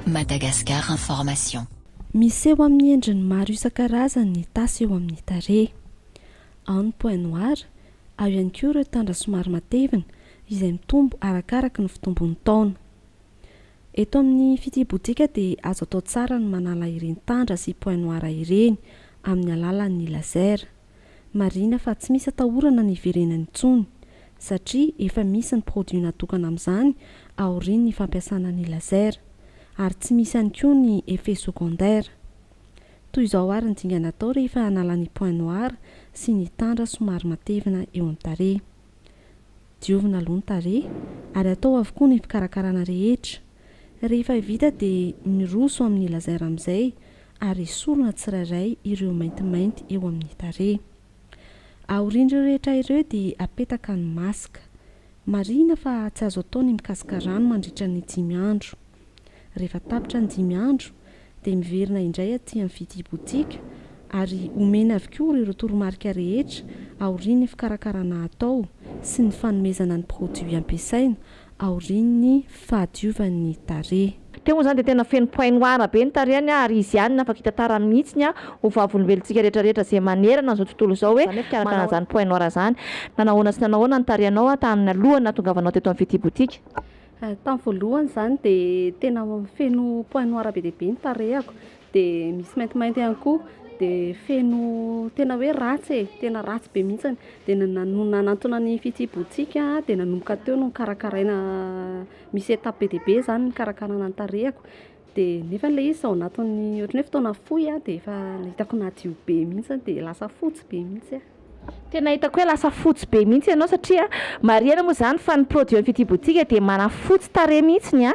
Madagascar Information. Miseho amin'ny endriny maro isan-karazany ny tasy eo amin'ny tarehy. Ao ny point noir, ao ihany koa ireo tandra somary matevina, izay mitombo arakaraka ny fitombon'ny taona. Eto amin'ny fitibodika dia azo atao tsara ny manala ireny tandra sy point noir ireny amin'ny alalan'ny laser. Marihina fa tsy misy atahorana ny hiverenany intsony satria efa misy ny produit natokana amin'izany aorian'ny fampiasana ny laser ary tsy misy ihany koa ny effet secondaire. Toy izao ary ny dingana atao rehefa hanala ny point noir sy ny tandra somary matevina eo amin'ny tarehy. Diovina aloha ny tarehy ary atao avokoa ny fikarakarana rehetra. Rehefa vita dia miroso amin'ny laser amin'izay ary esorina tsirairay ireo maintimainty eo amin'ny tarehy. Aorian'ireo rehetra ireo dia apetaka ny masque. Marihina fa tsy azo atao ny mikasoka rano mandritra ny dimy andro. Rehefa tapitra ny dimy andro dia miverina indray aty amin'ny fidibotsika ary omena avokoa ireo toromarika rehetra aorian'ny fikarakarana atao sy ny fanomezana ny produit ampiasaina aorian'ny fahadiovan'ny tarehy. Teo moa izany dia tena feno point noir be ny tarehiny ary izy ihany no afaka hitantarany mihitsy ny ho vavolombelontsika rehetrarehetra izay manerana izao tontolo izao hoe manana izany point noir izany. Nanahoana sy nanahoana ny tarehinao tamin'ny alohan'ny nahatongavanao teto amin'ny fidibotsika? Tamin'ny voalohany izany dia tena feno point noir be dia be ny tarehako, dia misy maintimainty ihany koa, dia feno tena hoe ratsy e, tena ratsy be mihitsy, dia ny nanantona ny fitsibohantsika dia nanomboka teo no nikarakaraina, misy étape be dia be izany ny fikarakarana ny tarehako. Dia nefa ilay izy ao anatin'ny ohatran'ny hoe fotoana fohy aho dia efa hitako nadio be mihitsy dia lasa fotsy be mihitsy aho. Tena hitako hoe lasa fotsy be mihitsy ianao satria marihana moa izany fa ny produit ny Fitia Boutique dia manafotsy tarehy mihitsy ny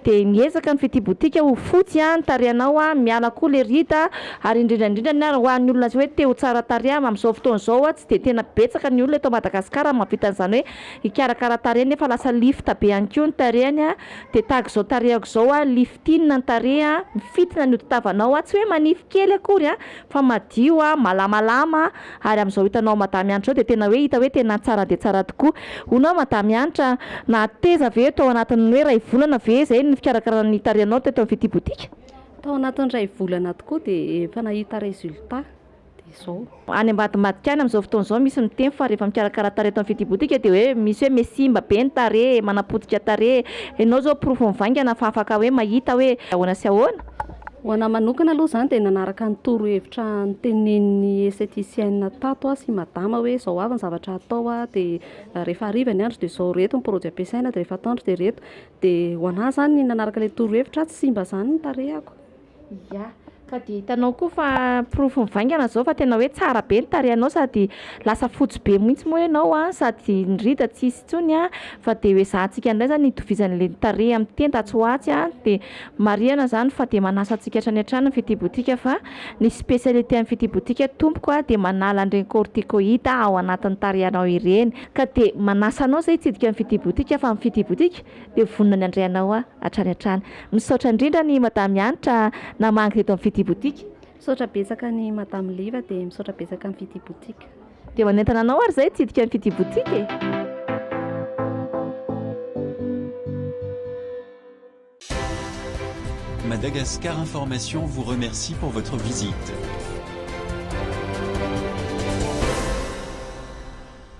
dia miezaka ny Fitia Boutique ho fotsy ny tarehinao miala koa ilay rida ary indrindra indrindra ny ary ho an'ny olona hoe te ho tsara tarehy amin'izao fotoana izao tsy dia tena betsaka ny olona eto Madagasikara mahavita an'izany hoe hikarakara tarehy nefa lasa lifta be ihany koa ny tarehiny Dia tahaka izao tarehako izao a, liftinina ny tarehy a, mifintina ny hodi-tavanao a, tsy hoe manify kely akory a, fa madio a, malamalama a, ary amin'izao hitanao Madame Hanitra izao dia tena hoe hita hoe tena tsara dia tsara tokoa. Hono aho Madame Hanitra a, nahateza ve tao anatin'ny hoe iray volana ve izay ny fikarakarana ny tarehinao teto amin'ny Fitia Boutique? Tao anatin'ny iray volana tokoa dia efa nahita résultat. dia izao. Any ambadimbadika any amin'izao fotoana izao misy miteny fa rehefa mikarakara tarehy eto amin'ny Fitibotika dia hoe misy hoe me simba be ny tarehy, manapotika tarehy. Ianao izao porofo mivaingana fa afaka hoe mahita hoe ahoana sy ahoana? Ho anahy manokana aloha izany dia nanaraka ny torohevitra notenenin'ny estheticienne tato aho sy i Madama hoe izao avy ny zavatra hatao a, dia rehefa hariva ny andro dia izao, ireto ny produits ampiasaina dia rehefa atoandro dia ireto. Dia ho anahy izany ny nanaraka ilay torohevitra tsy simba izany ny tarehako. Ia, ka dia hitanao koa fa porofo mivaingana izao fa tena hoe tsara be ny tarehinao sady lasa fotsy be mihitsy moa ianao a, sady ny rida tsy hisy intsony a, fa dia ho ezahantsika indray izany hitovizana ilay ny tarehy amin'ny tenda atsy ho atsy a, dia marihana izany fa dia manasa antsika hatrany hatrany ny Fitia Boutique fa ny spécialité an'ny Fitia Boutique tompoko a, dia manala an'ireny corticoïde ao anatin'ny tarehinao ireny, ka dia manasa anao izay hitsidika ny Fitia Boutique fa ny Fitia Boutique dia vonona ny handray anao aho hatrany hatrany. Misaotra indrindra an'i Madame Hanitra namangy teto amin'ny Fitia Boutique. Misaotra betsaka an'i Madame Liva dia misaotra betsaka an'i Fitia Boutique. Dia manentana anao ary izay hitsidika an'i Fitia Boutique e! Madagascar Information vous remercie pour votre visite.